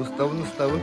Устабын устабын.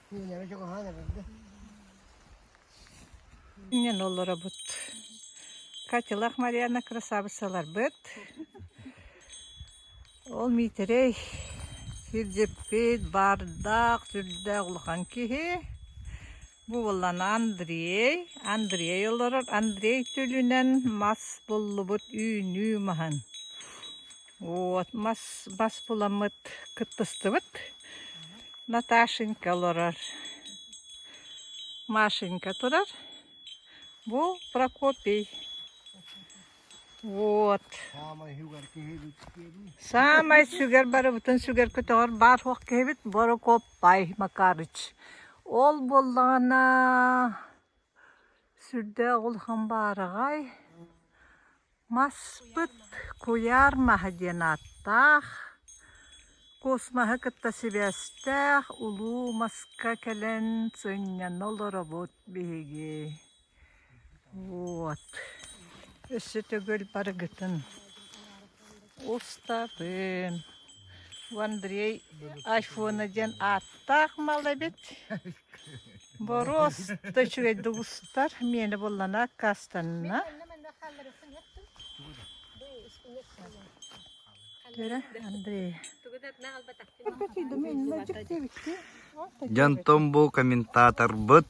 Күөлэрэ чугаһаан эбиллэ. Ийэн олоробут. Катялах Марьяна красавицаларбыт. Ол Миитэрэй кирдьиппит, баардаах, сүрдээх улахан киһи. Бу буоллан Андрей. Андрей олорор. Андрей түлүнэн мас буллубут үүнүү маһын. Вот мас бас буламмыт кыттыстыбыт. Наташенька олорор. Машенька турар. Бу Прокопий. Вот. Самай сүгэр барыбытын сүгэр көтөҕөр баар хуох киһибит Борокоппай Макарыч. Ол боллаана сүрдэ оғыл хам баараҕай. Маспыт куйаар маһа диэн ааттаах. Куус маһы кытта сибээстээх улуу маска кэлэн сынньана олоробут биһиги. Вот. Өссө төгүл барыгытын. Устатын Андрей айфона диэн ааттаах мал эбит. Бороос да үчүгэй да устар миэнэ буллана кастанна. Төре Андрей. Дьон бу комментаторбыт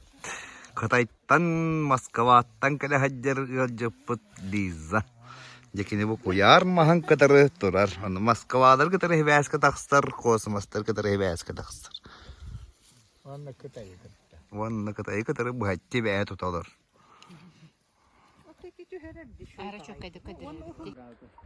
Кытай Тан Москваттан кэлэ сылдьар ыалдьыппыт Лиза. Дьэ кини бу куйаар маһын кытары турар. Ону Москвалары кытары сибээскэ тахсар, космостары кытары сибээскэ тахсар. Уонна Кытайы кытта. Уонна Кытайы кытары быһаччы бэйэ туталар. Ара çok kadar kadar.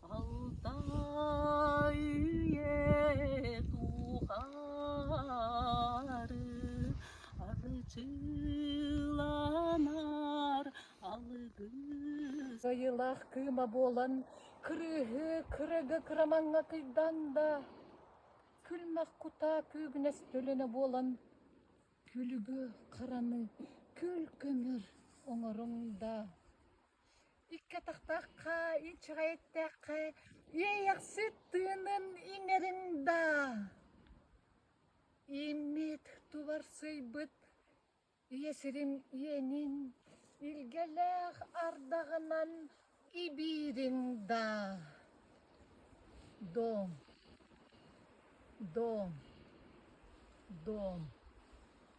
Алтай тухары арчыланар алыгы Кыйылах кыыма буолан кырыыһы кырыгы кырамаҥҥа кыйдан да күлмэх кутаа күүгүнэс төлөнө буолан күлүгү хараны күл көмөр оҥоруҥ да Икки атахтаахха, инчэҕэй эттэххэ, үөйэхсит тыынын иҥэрин даа, ииммит туларсыйбыт ийэ сирин иэнин илгэлээх ардаҕынан ибиирин даа. Доом, доом, доом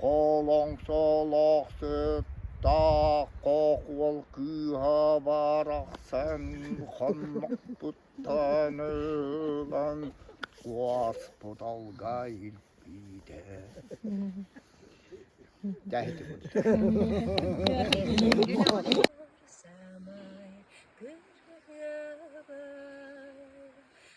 Холоҥсолоох сыттаах хохуол кыыһа барахсан хоннохпуттан ылан суоспут алга илпиитэ Тэһити курдук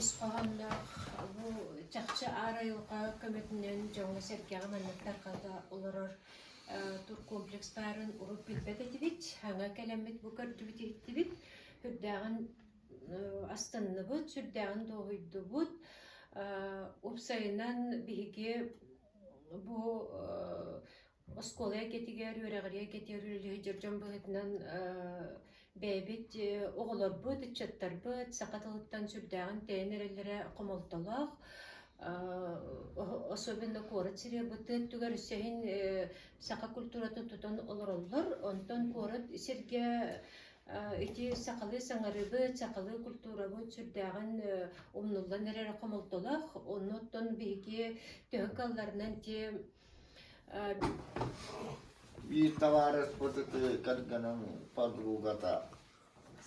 Ис хоһоонноох бу чахчы аар айылҕа көмөтүнэн дьоҥҥо сэргэҕэ манныктар хата олорор тур комплекстарын урут билбэт этибит, аңа кэлэммит бу көрдүбүт-иһиттибит, үрдээҕин Астынныбыт, сүрдээҕин дуоһуйдубут. Уопсайынан биһиги бу оскуола эйгэтигэр, үөрэҕирии эйгэтигэр үлэлэһэ дьон быһыытынан бэйэбит оҕолорбут, ыччаттарбыт саха тылыттан сүрдээҕин тэйэн эрэллэрэ хомолтолоох. Особенно куорат сирэбыт өттүгэр өссө иһин саха культуратын тутан олороллор. Онтон куорат сиргэ Ити сахалыы саҥарыбыт, сахалыы культурабыт сүрдээҕин умнуллан эрэр хомолтолоох. Оннуттан биһиги төһө кыалларынан те биир табаарыспыт ити кэргэним подругата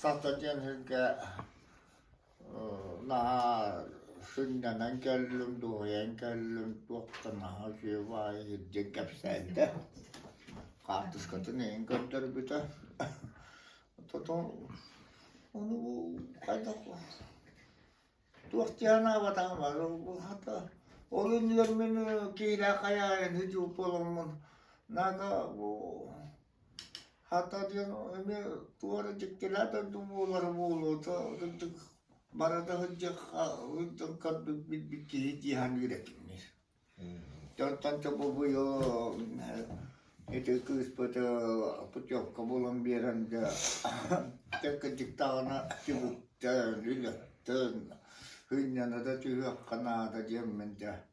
саха диэн сиргэ Наһаа сынньанан кэллим, дуоһуйан кэллим, туох да наһаа үчүгэй баҕайы илдьэн кэпсээтэ. Хаартыскатын эйин көрдөрбүтэ. Потом ону бу хайдах туох дии санаабатаҕым бары булхата. Ол иннигэр мин киһилээх хайаайыны дьулуп буоламмын наада бу Хата диэн эмиэ туора дьиктилээх дойду буолара буолуото, кырдык бара да сылдьыахха сылдьан көрбүт билбит киһи дии саныыр этим мин. Оттон бу ити кыыспыт путевка булан биэрэн дьэ кырдьыктаҕына түбүктэн, үлэттэн, сынньана да түһүөххэ наада диэммин дьэ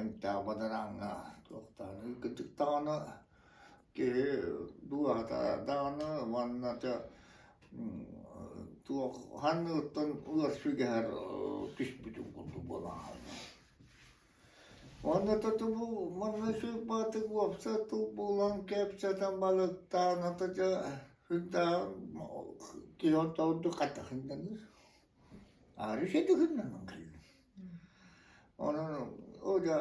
эмтээх бадарааҥҥа туохтаахына кырдьыктаҕына киһи дууһата даҕаны уонна тө туох ханныгыттан улар сүгэһэр түспүтүн курдук буолан аһынна. Уонна то тобу манна сыырбаатык уопсат тыл булан кэпсэтэн балыктаан ата дьэ сырдаан киһи онто ордук хатахынданыр Арыыса дыгыннанан кэллим. Онон ол да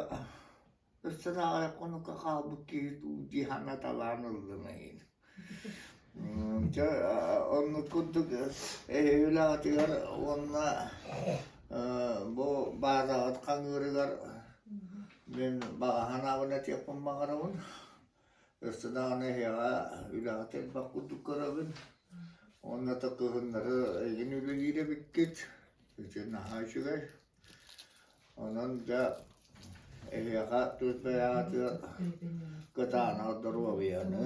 өссө даҕаны хонукка хаалбыт киһи дуу дии санаталаан ыллым эйин. Чэ оннук курдук эһиилэҕитигэр уонна бу баадаҕыт хаҥыырыгар мин баҕа санаабын этиэхпин баҕарабын. Өссө даҕаны эһиэхэ үлэҕит элбэх курдук көрөбүн. Уонна такыһыннары эйигин үлэлиир эбиккит, ити наһаа үчүгэй. Онон дьэ эһиэхэ түөрт бэйэҕитигэр кытаанах доруобуйаны,